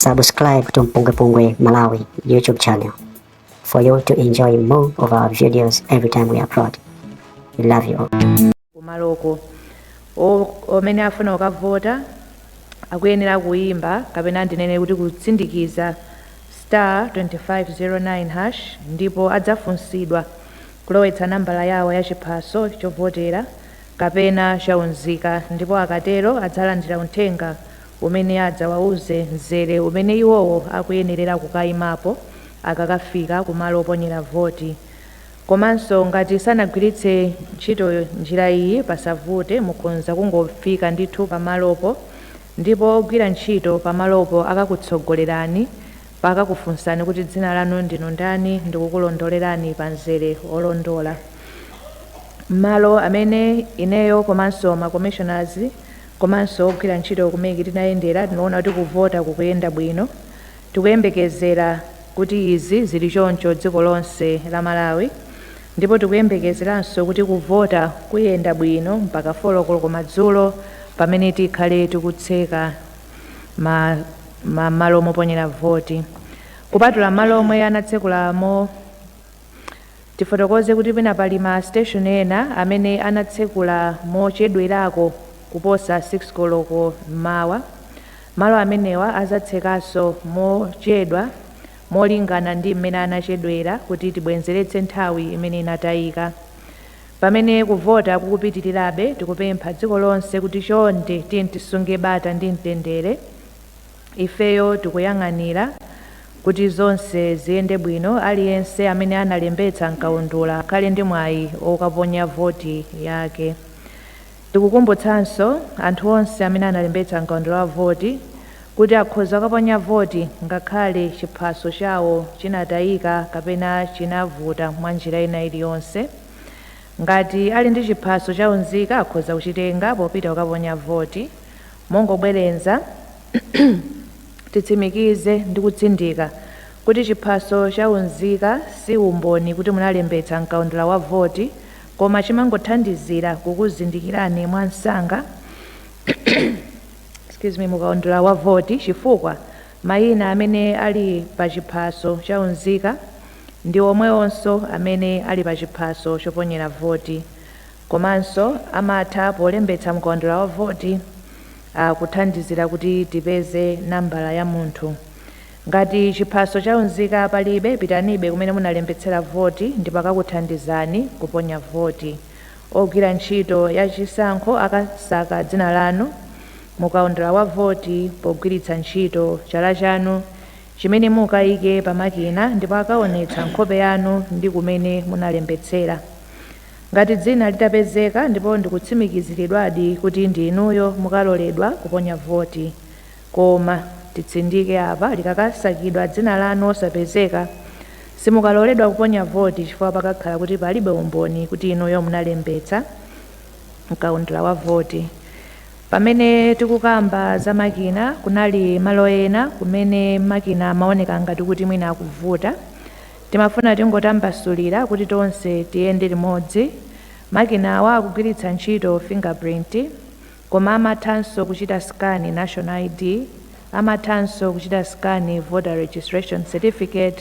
Subscribe to Mpungwepungwe Malawi YouTube channel for you to enjoy more of our videos every time we upload. We love you all. kumaloko Omwe afuna kukavota akuyenera kuyimba kapena ndinene kuti kutsindikiza star 2509 hash ndipo adzafunsidwa kulowetsa nambala yawo ya chiphaso chovotera kapena chaunzika ndipo akatero adzalandira uthenga umene adzawauze mzere umene iwowo akuyenerera kukaimapo akakafika kumalo oponyera voti. Komanso ngati sanagwiritse ntchito njira iyi pasavute, mukhoza kungofika ndithu pamalopo ndipo ogwira ntchito pamalopo akakutsogolerani pakakufunsani kuti dzina lanu ndinu ndani ndikukulondolerani pa mzere olondola. Malo amene ineyo komanso ma Commissioners komanso ogwira ntchito ku MEC tinayendera tinaona kuti kuvota kukuyenda bwino. Tikuyembekezera kuti izi zili choncho dziko lonse la Malawi ndipo tikuyembekezeranso kuti kuvota kuyenda bwino mpaka 4 koloko madzulo pamene tikhale tikutseka mmalo moponyera voti kupatula malo omwe anatsekula mo Tifotokoze kuti pena pali ma station ena amene anatsekula mochedwerako kuposa 6 koloko m'mawa. Malo amenewa azatsekanso mochedwa molingana ndi m'mene anachedwera kuti tibwenzeretse nthawi imene inatayika. Pamene kuvota kukupitilirabe tikupempha dziko lonse kuti chonde tiyeni tisunge bata ndi mtendere. Ifeyo tikuyang'anira kuti zonse ziyende bwino. Aliyense amene analembetsa m'kaundula akhale ndi mwayi wokaponya voti yake. Tikukumbutsanso anthu onse amene analembetsa m'kaundula wa voti kuti akhoza kukaponya voti ngakhale chiphaso chawo chinatayika kapena chinavuta mwa njira ina iliyonse. Ngati ali ndi chiphaso cha unzika akhoza kuchitenga popita kukaponya voti. Mongobwerenza, titsimikize ndi kutsindika kuti chiphaso cha unzika si umboni kuti munalembetsa m'kaundula wa voti koma chimangothandizira kukuzindikirani mwa msanga mukaundula wa voti chifukwa mayina amene ali pa chiphaso cha unzika ndi omwewonso amene ali pa chiphaso choponyera voti. Komanso amatha polembetsa mkaundula wa voti akuthandizira kuti tipeze nambala ya munthu. Ngati chiphaso cha unzika palibe, pitanibe kumene munalembetsera voti ndipo akakuthandizani kuponya voti. Ogwira ntchito ya chisankho akasaka dzina lanu mu kaundula wa voti pogwiritsa ntchito chala chanu chimene mukaike pa makina ndipo akaonetsa nkhope yanu ndi kumene munalembetsera. Ngati dzina litapezeka ndipo ndikutsimikiziridwadi kuti ndi inuyo mukaloledwa kuponya voti. Koma, titsindike apa, likakasakidwa dzina lanu osapezeka, simukaloledwa kuponya voti chifukwa pakakhala kuti palibe umboni kuti inuyo munalembetsa mkaundula wa voti. Pamene tikukamba za makina, kunali malo ena kumene makina amaoneka ngati kuti mwina akuvuta Timafuna tingotambasulira kuti tonse tiyende limodzi. Makinawa akugwiritsa ntchito fingerprint koma amathanso kuchita scan National ID, amathanso kuchita scan Voter Registration Certificate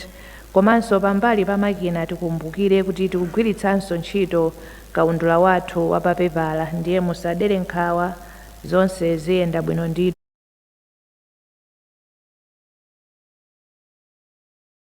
komanso pambali pa makina tikumbukire kuti tikugwiritsanso ntchito kaundula wathu wa papepala ndiye musadere nkhawa zonse ziyenda bwino ndithu.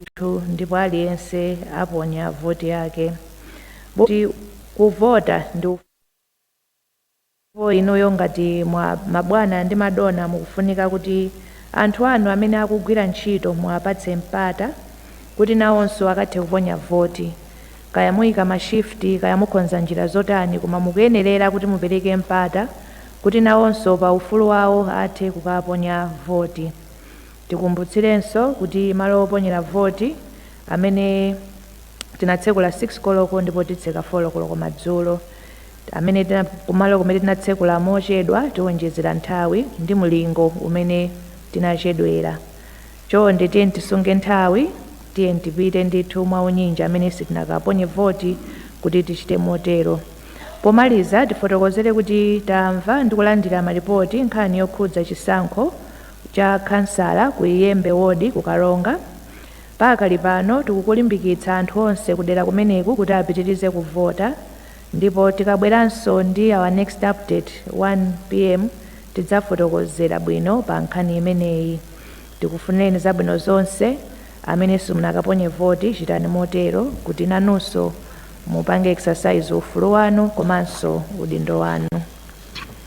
ndithu ndipo aliyense aponya voti yake kuti kuvota ndipo inuyo ngati mwa mabwana ndi madona mukufunika kuti anthu anu amene akugwira ntchito muwapatse mpata kuti nawonso akathe kuponya voti kaya muyika mashifti kaya mukonza njira zotani koma mukuyenerera kuti mupereke mpata kuti nawonso pa ufulu wawo athe kukaponya voti Tikumbutsirenso kuti malo oponyera voti amene tinatsekula 6 koloko ndipo titseka 4 koloko madzulo, amene, kumalo kumene tinatsekula mochedwa tiwonjezera nthawi ndi mlingo umene tinachedwera. Chonde tiyeni tisunge nthawi, tiyeni tipite ndithu mwaunyinji amene sitinakaponye voti kuti tichite motero. Pomaliza tifotokozere kuti tamva ndi kulandira malipoti nkhani yokhudza chisankho cha khansala ku Iyembe ward ku Karonga. Pakali pano tikukulimbikitsa anthu onse kudera kumeneku kuti apitirize kuvota ndipo tikabweranso ndi our next update 1 pm tidzafotokozera bwino pa nkhani imeneyi. Tikufunireni zabwino zonse. Amene simunakaponye voti chitani motero kuti nanunso mupange exercise ufulu wanu komanso udindo wanu.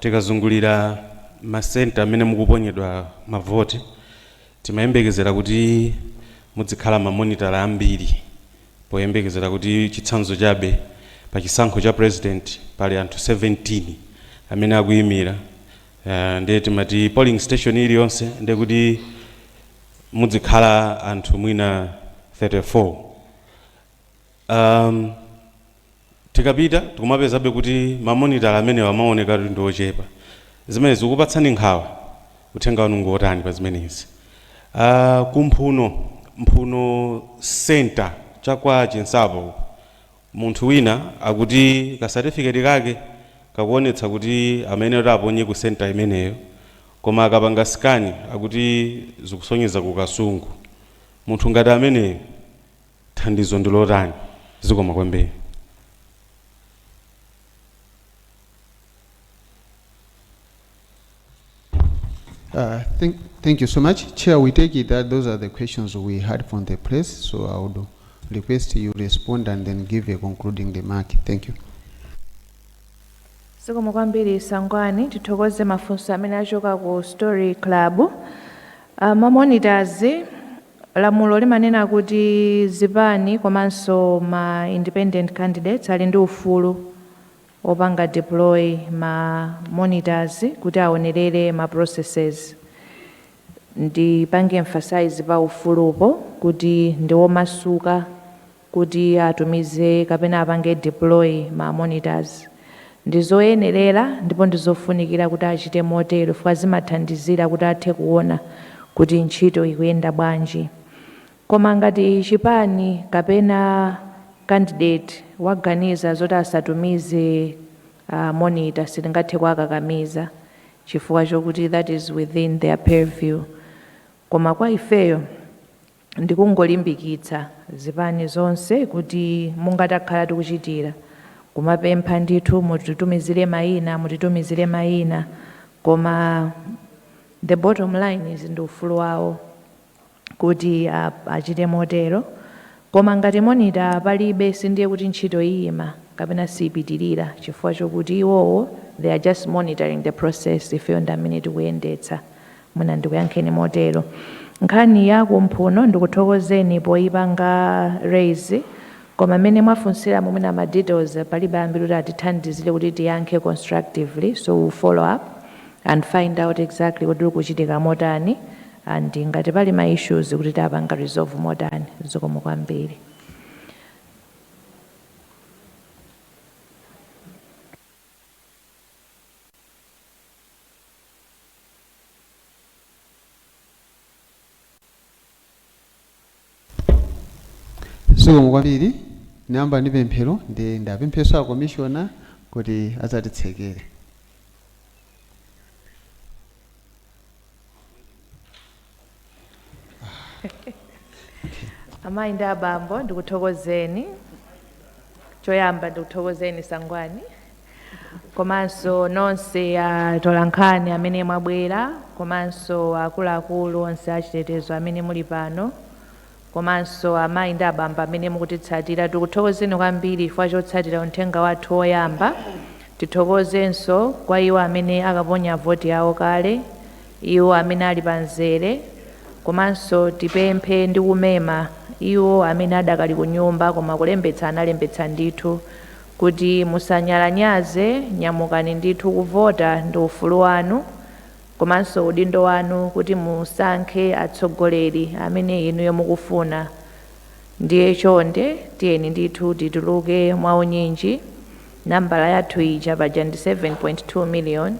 Tikazungulira ma centre amene mukuponyedwa ma vote timayembekezera kuti mudzikhala ma monitor ambiri poyembekezera kuti chitsanzo chabe pa chisankho cha president pali anthu 17 amene akuyimira ndiye timati polling station iliyonse ndiye kuti mudzikhala anthu mwina 34. Umm. Tikapita tikumapezabe kuti mamonitor amenewa amaoneka kuti ndi ochepa. Zimenezi zikukupatsani nkhawa? Uthenga wanu ngotani pa zimenezi? Aaa ku Mphuno, Mphuno centre cha kwa Chinsapo uku, munthu wina akuti ka certificate kake kakuonetsa kuti amayenera aponye ku centre imeneyo koma akapanga scan akuti zikusonyeza ku Kasungu. Munthu ngati ameneyu. Thandizo ndi lotani? Zikomo kwambiri. Uh, thank, thank you so much. Chair, we take it that those are the questions we had from the press, so I would request you respond and then give a concluding remark. Thank you. zikomo kwambiri sangwani tithokoze mafunso amene achoka ku story club uh, mamonitors Lamulo limanena kuti zipani komanso ma independent candidates ali ndi ufulu opanga deploy ma monitors kuti awonelere ma processes. Ndipange emphasize pa ufulupo kuti ndiwomasuka. kuti atumize kapena apange deploy ma monitors. Ndizoyenerera ndipo ndizofunikira kuti achite motero chifukwa zimathandizira kuti athe kuona kuti ntchito ikuyenda bwanji. Koma ngati chipani kapena candidate waganiza zoti asatumize monitor sitingathe kuwakakamiza chifukwa chokuti that is within their purview. Koma kwa ifeyo. ndikungolimbikitsa zipani zonse kuti monga takhala tikuchitira kumapempha ndithu mutitumizire maina mutitumizire maina koma the bottom line is ndi ufulu wawo kuti achite motero koma ngati monita palibe sindiye kuti ntchito iyima kapena siipitirira chifukwa chokuti iwowo they are just monitoring the process ifeyo ndi amene tikuyendetsa Mwina ndikuyankheni motero. Nkhani ya kumphuno ndikuthokozeni poyipanga raise koma mmene mwafunsiramo mwina ma details palibe ambiri kuti atithandizire kuti tiyankhe constructively so we will follow up and find out exactly kuti kukuchitika motani and ngati pali ma issues kuti tapanga resolve motani. Zikomo kwambiri. zikomo kwambiri niyamba ndi pemphero ndiye ndipempheso a komishona kuti adzatitsekere amayi ndi abambo ndikuthokozeni choyamba ndikuthokozeni sangwani komanso nonse atolankhani amene mwabwera komanso akuluakulu onse achitetezo amene muli pano komanso amayi ndi abambo amene mukutitsatira. Tikuthokozeni kwambiri chifukwa chotsatira unthenga wathu woyamba. Tithokozenso kwa iwo amene akaponya voti yawo kale, iwo amene ali pa mzere, komanso tipemphe ndi kumema iwo amene adakali kunyumba koma kulembetsa analembetsa ndithu, kuti musanyalanyaze, nyamukani ndithu kuvota ndi ufulu wanu. komanso udindo wanu kuti musankhe atsogoleri amene inuyo mukufuna ndiye chonde tiyeni ndithu tituluke mwaunyinji nambala yathu ija paja ndi 7.2 million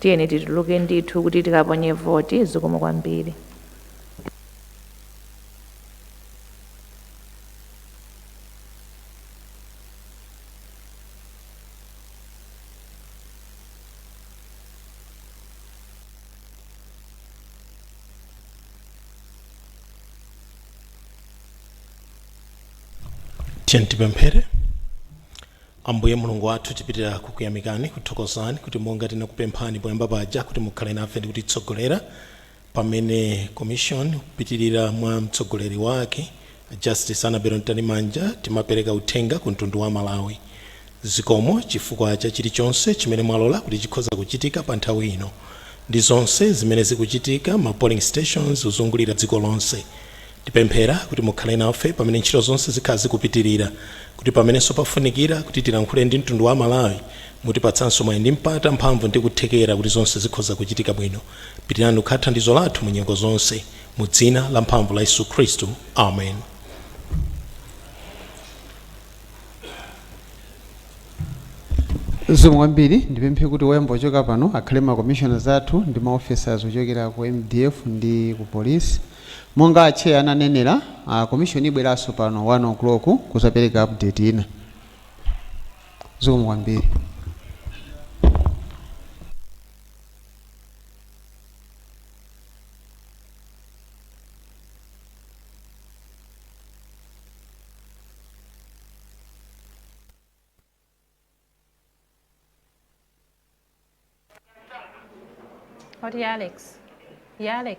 tiyeni tituluke ndithu kuti tikaponye voti zikomo kwambiri tiyeni tipemphere ambuye mulungu wathu tipitira kukuyamikani kuthokozani kuti monga tinakupemphani poyamba paja kuti mukhale nafe ndi kutitsogolera Pamene commission kupitilira mwa mtsogoleri wake a Justice Annabel Mtalimanja timapereka uthenga ku mtundu wa Malawi. Zikomo chifukwa cha chilichonse chimene mwalola kuti chikhoza kuchitika pa nthawi ino ndi zonse zimene zikuchitika ma polling stations kuzungulira dziko lonse. Tipemphera kuti mukhale nafe pamene ntchito zonse zikhala zikupitilira, kuti pamenenso pafunikira kuti tilankhule ndi mtundu wa Amalawi, mutipatsanso mwayi ndi mpata, mphamvu ndi kuthekera kuti zonse zikhoza kuchitika bwino. Pitilirani kukhala thandizo lathu mu nyengo zonse. Mu dzina la mphamvu la Yesu Khristu. Amen. Zikomo kwambiri ndipemphe kuti oyamba ochoka pano akhale ma commissioners athu ndi ma officers ochokera ku MDF ndi ku police Monga Atcheya ananenera, a commission ibweranso pano 1:00 kuzapereka update ina. Zikomo kwambiri. Right Alex. Yeah Alex.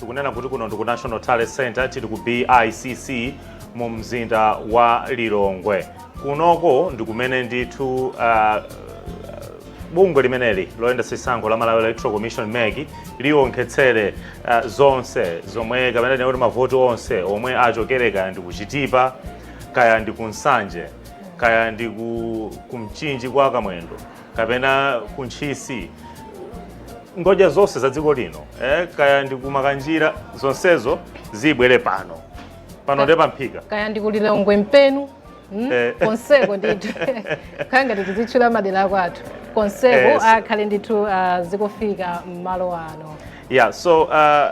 tikunena kuti kuno ndiku national tally center tili ku bicc mu mzinda wa lilongwe kunoko ndikumene ndithu uh, bungwe limeneli loyendetsa chisankho la malawi electoral commission mec lionkhetsere uh, zonse zomwe kapena tinene kuti mavoti onse omwe achokere kaya ndi kuchitipa kaya ndi kunsanje kaya ndi ku, kumchinji kwa kamwendo kapena ku ntchisi ngodya zonse za dziko lino eh, kaya ndi kumakanjira zonsezo zibwere pano pano ndi pamphika kaya ndi kulilongwe mpenu hmm? eh. konseko ndithu kaya ngati tizitchula madera akwathu konseko eh, akhale ndithu uh, zikufika mmalo ano yeah so uh,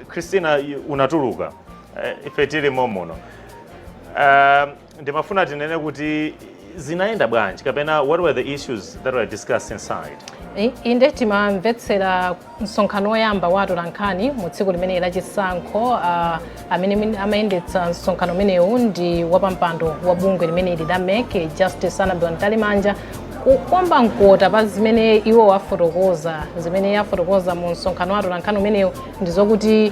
christina unatuluka uh, ife tili momuno uh, ndimafuna tinene kuti zinayenda bwanji kapena what were the issues that were discussed inside I- inde timamvetsera msonkhano woyamba wa atolankhani mu tsiku limeneli la chisankho ah, amene min- amayendetsa msonkhano umenewu ndi wapampando wa bungwe limeneli la mec justice anabel mtalimanja kukomba mkota pa zimene iwo afotokoza zimene afotokoza mu msonkhano wa atolankhani umenewu ndi zokuti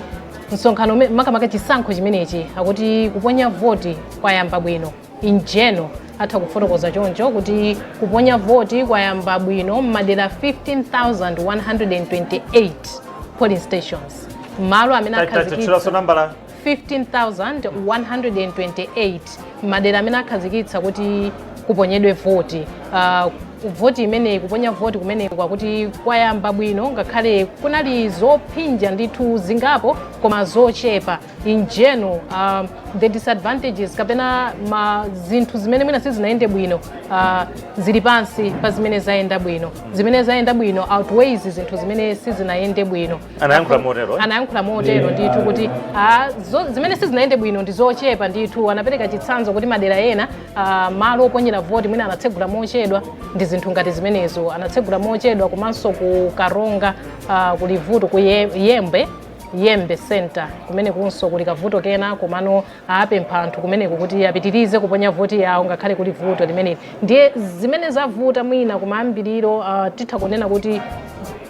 msonkhano ume- makamaka chisankho chimenechi akuti kuponya voti kwayamba bwino in general atha kufotokoza choncho kuti kuponya voti kwayamba bwino m'madera 15128 polling stations malo amene akhazikitsa 15128 madera amene akhazikitsa kuti kuponyedwe voti uh, voti imeneyi kuponya voti kumeneku akuti kwayamba bwino ngakhale kunali zophinja ndithu zingapo koma zochepa in general um, the disadvantages kapena ma zinthu zimene mwina sizinayende bwino uh, zili pansi pa zimene zayenda bwino zimene zayenda bwino outweighs zinthu zimene sizinayende bwino Anayankhula motero, eh? anayankhula motero ndithu kuti ah, zo- zimene sizinayende bwino ndi zochepa ndithu anapereka chitsanzo kuti madera ena uh, malo oponyera voti mwina anatsegula mochedwa ndi zinthu ngati zimenezo anatsegula mochedwa komanso ku karonga uh, kuli vuto ku Ye- yembe yembe center kumenekonso kuli kavuto kena komano apempha anthu kumeneko kuti apitirize kuponya voti yawo ngakhale kuli vuto limeneli ndiye zimene zavuta mwina kumayambiriro uh, titha kunena kuti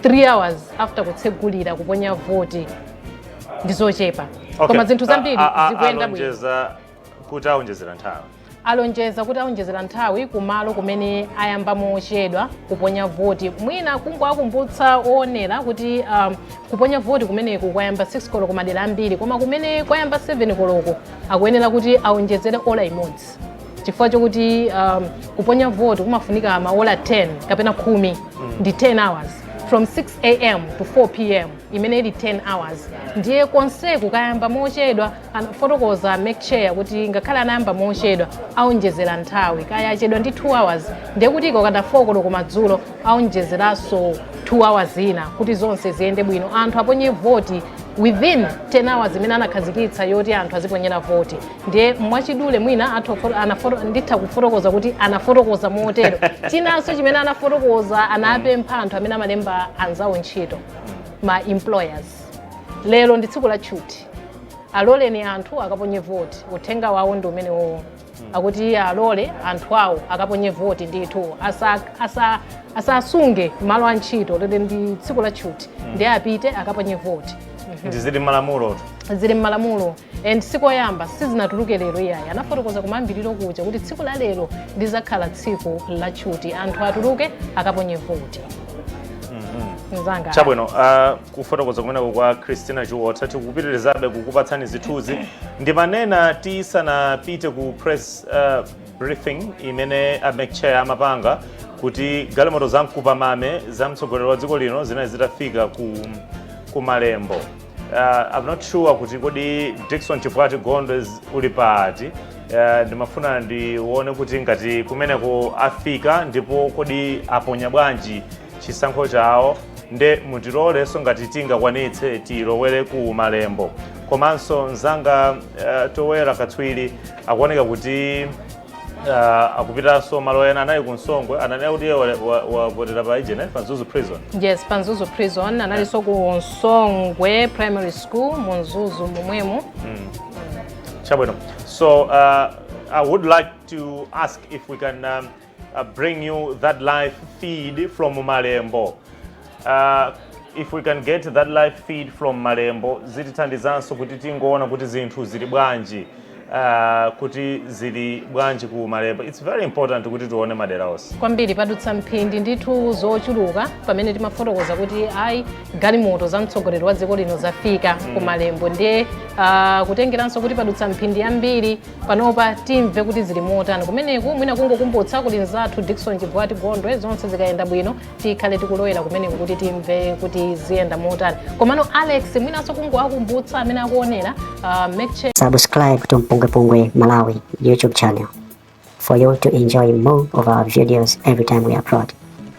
3 hours after kutsegulira kuponya voti ndi zochepa Okay. koma zinthu zambiri A- a- a- zikuyenda bwino alonjeza kuti aonjezera nthawi alonjeza kuti aonjezera nthawi kumalo kumene ayamba mochedwa kuponya voti mwina kungowakumbutsa oonera kuti um, kuponya voti kumeneku kwayamba 6 koloko madera ambiri koma kumene kwayamba 7 koloko akuyenera kuti aonjezere ola imodzi chifukwa chokuti um, kuponya voti kumafunika maola 10 kapena khumi ndi 10 hours from 6 am to 4 pm imene ili 10 hours ndiye konseko kwayamba mochedwa Anafotokoza mec chair kuti ngakhale anayamba mochedwa aonjezera nthawi kaya achedwa ndi 2 hours ndiye kuti ikakwana 4 koloko madzulo aonjezeranso 2 hours ina kuti zonse ziyende bwino anthu aponye voti within 10 hours imene anakhazikitsa yoti anthu aziponyera voti ndiye mwachidule mwina athu ofo- anafo- nditha kufotokoza kuti anafotokoza motero chinanso chimene anafotokoza anapempha anthu amene amalemba anzawo ntchito ma employers lero ndi tsiku la tchuti aloleni anthu akaponye voti uthenga wawo ndi umenewo akuti iye alole anthu awo akaponye voti ndithu asa- asa- asasunge malo a ntchito lero ndi tsiku la tchuti ndiye apite akaponye voti ndizili malamulo zili m'malamulo and sikuyamba sizinatuluke lero iyayi anafotokoza kumayambiriro kuja kuti tsiku la lero lizakhala tsiku la tchuti anthu atuluke akaponye voti mzanga chabwino ah, kufotokoza kumeneko kwa christina chiwotha tikupitirizabe kukupatsani zithunzi ndimanena tisanapite ku press uh, briefing imene a mec chair amapanga kuti galimoto za mkupamame za mtsogoleri wa dziko lino zinali zitafika ku, ku malembo uh, i'm not sure kuti kodi dikson chivwati gondwe z- uli pati uh, ndimafuna ndione kuti ngati kumeneko afika ndipo kodi aponya bwanji chisankho chawo nde mutilolenso ngati tingakwanitse tilowere ku malembo komanso mzanga uh, Towera katswiri akuoneka kuti uh, akupitanso malo ena anali ku Msongwe ananena kuti wavotera pa ijene pa mzuzu prison yes pa mzuzu prison analinso ku Msongwe primary school mu mzuzu momwemo chabwino so uh, i would like to ask if we can um, uh, bring you that live feed from Malembo. Uh, if we can get that live feed from Malembo, zitithandizanso kuti tingoona kuti zinthu zili bwanji. Uh, kuti zili bwanji ku Malembo. It's very important kuti tione madera onse. kwambiri padutsa mphindi ndithu zochuluka pamene timafotokoza kuti ayi galimoto za mtsogoleri wa dziko lino zafika ku malembo ndiye ah, kutengeranso kuti padutsa mphindi zambiri panopa timve kuti zili motani kumeneko mwina kungokumbutsa kuti mzathu Dickson Chivwati gondwe zonse zikayenda bwino tikhale tikulowera kumeneko kuti timve kuti ziyenda motani komano alex mwinanso kungowakumbutsa amene akuonera uh, make sure Subscribe to Mpungwepungwe Malawi YouTube channel for you to enjoy more of our videos every time we upload.